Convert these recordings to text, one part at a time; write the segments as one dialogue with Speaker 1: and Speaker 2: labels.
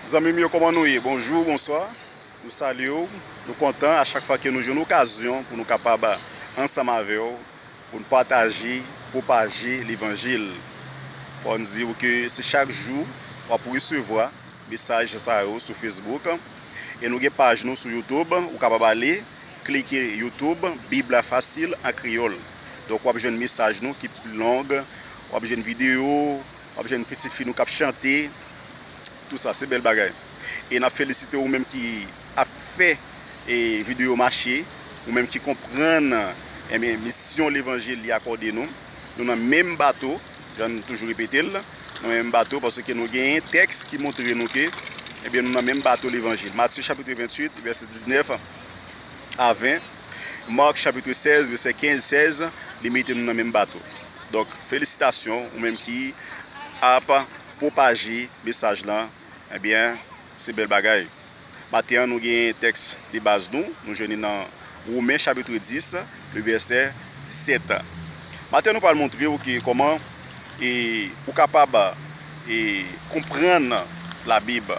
Speaker 1: Zanmim yo koman nou ye bonjou bonswa nou salyew nou kontan a chak fwa ke nou jwenn okazyon pou nou kapab ansanm avèw poun pataje pwopaje levanjil fòm diw ke se chak jou wap resevwa mesaj sa yo sou Facebook e nou gen paj nou sou YouTube ou kapab ale klike YouTube bib la fasil an kreyòl donk wap jwenn mesaj nou ki pi long wap jwenn video. Wap jwenn pitit fi nou kap chante tout sa se bèl bagay e nap felisite ou menm ki ap fè video mache ou menm ki konprann ebyen misyon levanjil li akòde nou nou nan menm bato janm toujou repetel nan menm bato paske nou genyen tèks ki montre nou ke ebyen nou nan menm bato levanjil Matye chapitre 28 vèse 19 a 20. Marc chapitre 16 vèsè 15, 16 li mete nou nan menm bato donk felisitasyon ou menm ki ap pwopaje mesaj lan ebyen se bèl bagay maten an nou genyen tèks de baz nou nou jwenn li nan romen chapitre 10 le vèsè 17 maten nou pral montre ou ke kòman e ou kapab e konprann la bib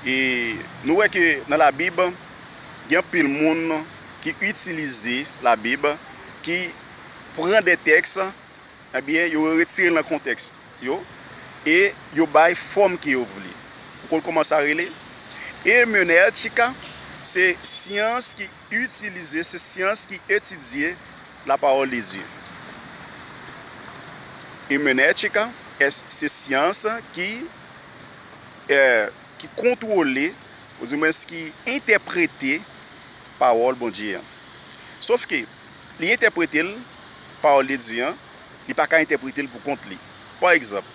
Speaker 1: e nou wè ke nan la bib. Gen anpil moun ki itilize Labib, ki pran de tèks, ebyen yo retire l nan kontèks yo, e yo bay fòm ke yo vle. Ou konn kouman sa rele? Ermenètika, se syans ki itilize, se syans ki etidye lapawòl de Dye. Ermenètika, se syans ki. ki kontwole, oudimwens ki entèprete pawòl Bondye an. Sofke, li entèprete l, pawòl de Dye an, li pa ka entèprete l pou kont li. Pa egzanp,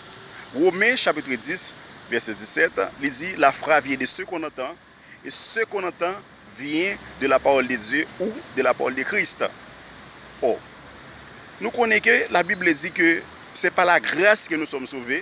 Speaker 1: Women chapitre 10, vèsè 17, li di, La fra vyen de se kon antan, e se kon antan vyen de la pawòl de Dye ou de la pawòl de Krist. Ò, nou konnen ke Labib di ke se pa lagras ke nou sòm sove,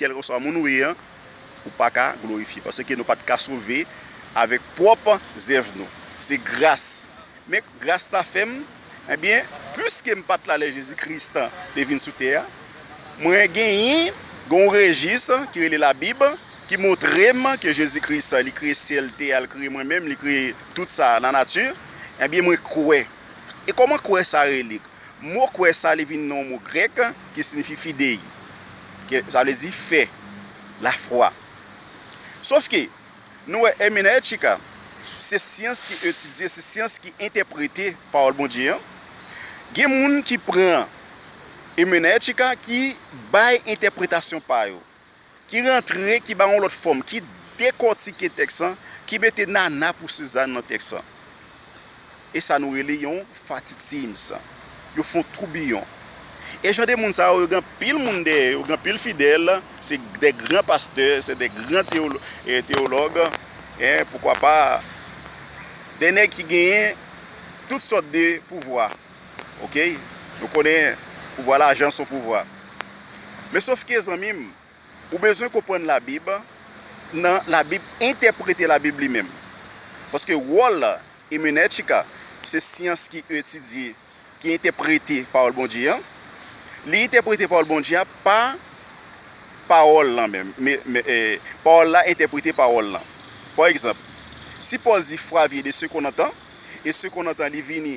Speaker 1: Kèlkeswa moun ou ye an, ou pa ka glorifye, paske nou pa t ka sove avèk pwòp zèv nou. Se gras. Men, gras la fè m, enben, piske m pa t la lè Jezi Kris te vin sou tè a, mwen genyen, gen yon rejis ki rele Labib ki montre m ke Jezi Kris li kreye syèl, tè a, li kreye mwen menm, li kreye tout sa, lanati, enben, mwen kwè. E kòman kwè sa rele? Mo kwè sa li vin nan yon mo grèk ki sinifi fidei, ke sa vle di fè, lafwa. Sof ke, nou wè èmenètika, se syans ki etidye, se syans ki entèprete pawòl Bondye an. Gen moun ki pran èmenètika ki bay entèpretasyon pa yo. ki rantre, ki ba yon lòt fòm, ki dekòtike tèks lan, ki mete nana pou sizann nan tèks lan. E sa nou rele yon fatitims. Yo fon toubiyon. E jan de moun sa yo, yo gen anpil moun dèyè yo, gen anpil fidèl, se de gran pastè, se de gran teyològ, e poukwa pa, de nèg ki genyen tout sòt de pouvwa. Ok nou konnen pouvwa lajan son pouvwa men sof ke zanmim ou bezwen konprann la bib nan la bib entèprete la bib li menm paske wòl emenètika se syans ki etidye ki entèprete pawòl Bondye an li entèprete pawòl Bondye an pa pawòl lan menm pawòl la entèprete pawòl lan pa egzanp si Paul di fwa vye de sekonn antan e sekonn antan li vini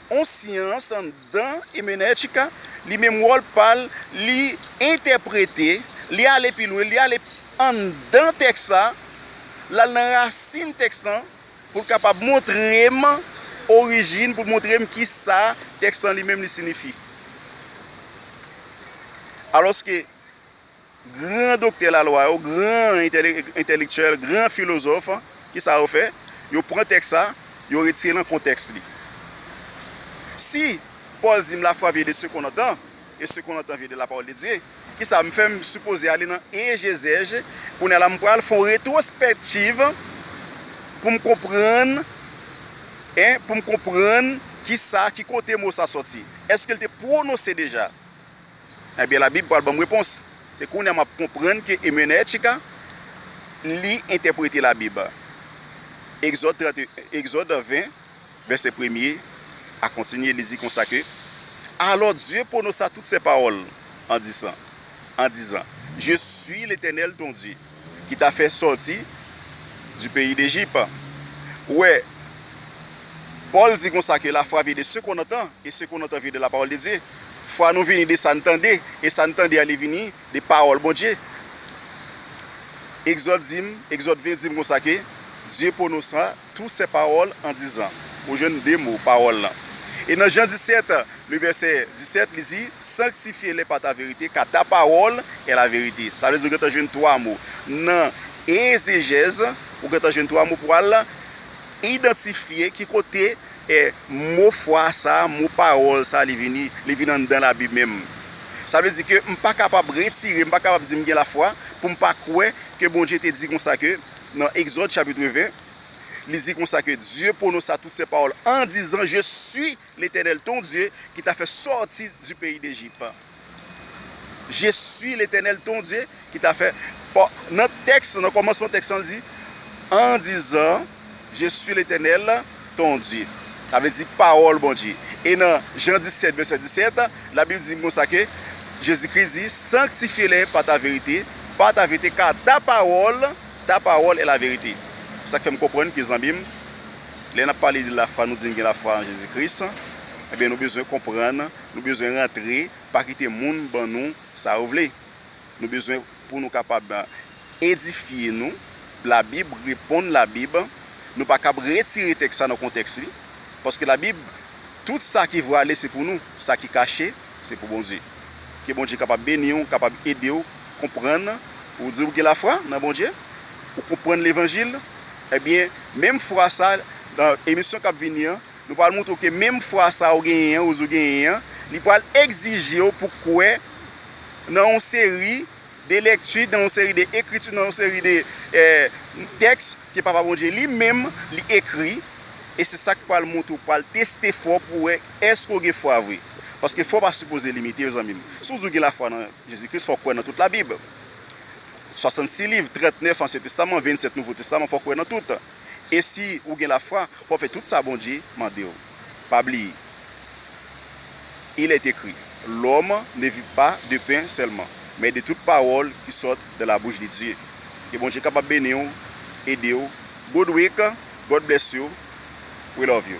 Speaker 1: On syans anndan emenètika, li menm wòl pa l, li entèprete, li ale pi lwen, li ale anndan tèks la, l al nan rasin tèks lan pou l kapab montre m orijin, pou l montre m ki sa tèks lan li menm li sinifi. Alòske. Gran doktè lalwa yo, gran entèlektyèl, gran filozòf, ki sa yo fè? Yo pran tèks sa, yo retire nan kontèks li. Si Pòl di m lafwa vye de se kon nan tan, e se kon nan tan vye de lapawòl de Dye, ki sa m fè? M sipoze ale nan egezèj, kounye a la m pral fè yon retwospèktiv pou m konprann, e pou m konprann ki sa, ki kote mo sa sòti. Èske l te pwononse deja? Ebyen labib pral banm repons. Se kounye a map konprann ke Emenechka li entèprete labib. Egzòd 31, Egzòd 20 vèsè premye a kontinye li di konsa ke, Alò Dye pwononsa tout sè pawòl an disan, an dizan, Je suis l'Etènèl ton Dye. ki ta fè sòti du peyi d'Ejip. Ou wè, Pòl di konsa ke lafwa vye de se kon antan, e se kon antan vye de lapawòl de Dye. Fwa nou vini de sa n tande, e sa n tande a li vini de pawòl Bondye. Egzòd di m, Egzòd 20 di m konsa ke, Dye pwononsa. Tous ces paroles en disant Ou jwenn de mo, pawòl lan. E nan Jan 17, le vèsè 17, li di, Sanktifye-lè pa ta verite, ka ta pawòl è la verite. Sa vle di ou gentan jwenn twa mo. Nan ezejèz, ou gentan jwenn twa mo pou al idantifye ki kote è mo fwa sa a, mo pawòl sa a li vini, li vin anndan Labib menm. Sa vle di ke m pa kapab retire, m pa kapab di m gen lafwa pou m pa kwè ke Bondye te di konsa ke. nan Exode chapitre 20, li di konsa ke Dieu prononça toutes ces paroles en disant, Je suis l'Eternel ton Dieu ki t'a fè sòti du peyi d'Ejip. Je suis l'Eternel ton Dieu ki t'a fè, nan tèks, nan kòmansman tèks lan li di, en disant, Je suis l'Eternel Ton Dye. Sa vle di pawòl Bondye. E nan Jan 17 vèsè 17, labib di konsa ke Jezikri di, sanktifye lè pa ta verite, pa ta verite ka ta pawòl, ta pawòl e la verite. Se sak fèm konprann ke zanmim, lè nap pale de la fwa nou di n gen la fwa an Jezi Kris, ebyen nou bezwen konprann, nou bezwen rantre, pa kite moun ban nou sa yo vle. Nou bezwen pou nou kapab edifye nou. Labib reponn Labib. Nou pa kab retire tèks sa nan kontèks li. Paske Labib, tout sa ki vwale se pou nou, sa ki kache se pou Bondye. Ke Bondye kapab beni w, kapab ede w konprann. Ou di ou gen lafwa nan Bondye, ou konprann levanjil, ebyen menm fwa sa, nan emisyon kap vini an, nou pral moutre w ke menm fwa sa ou genyen an, ou di ou genyen an, li pral egzije w pou kwè nan yon seri de lekti, nan yon seri de ekriti, nan yon seri de tèks ke Papa Bondye li menm li ekri, e se sa k pral montre ou pral teste fwa w pou wè èske ou gen fwa vre. Paske fwa w pa sipoze limite yo zanmi m. Si w di w gen lafwa nan Jezi Kris fò w kwè nan tout labib. 66 liv, 39 ansyen testaman, 27 nouvo testaman fò w kwè nan tout. E si ou gen lafwa, w'ap fè tout sa Bondye mande ou. Pa bliye, Il est écrit, L'homme ne vit pas de pain seulement, mais de toute parole qui sort de la bouche de Dieu. Ke Bondye kapab beni ou, ede ou. Good week, God bless you, we love you.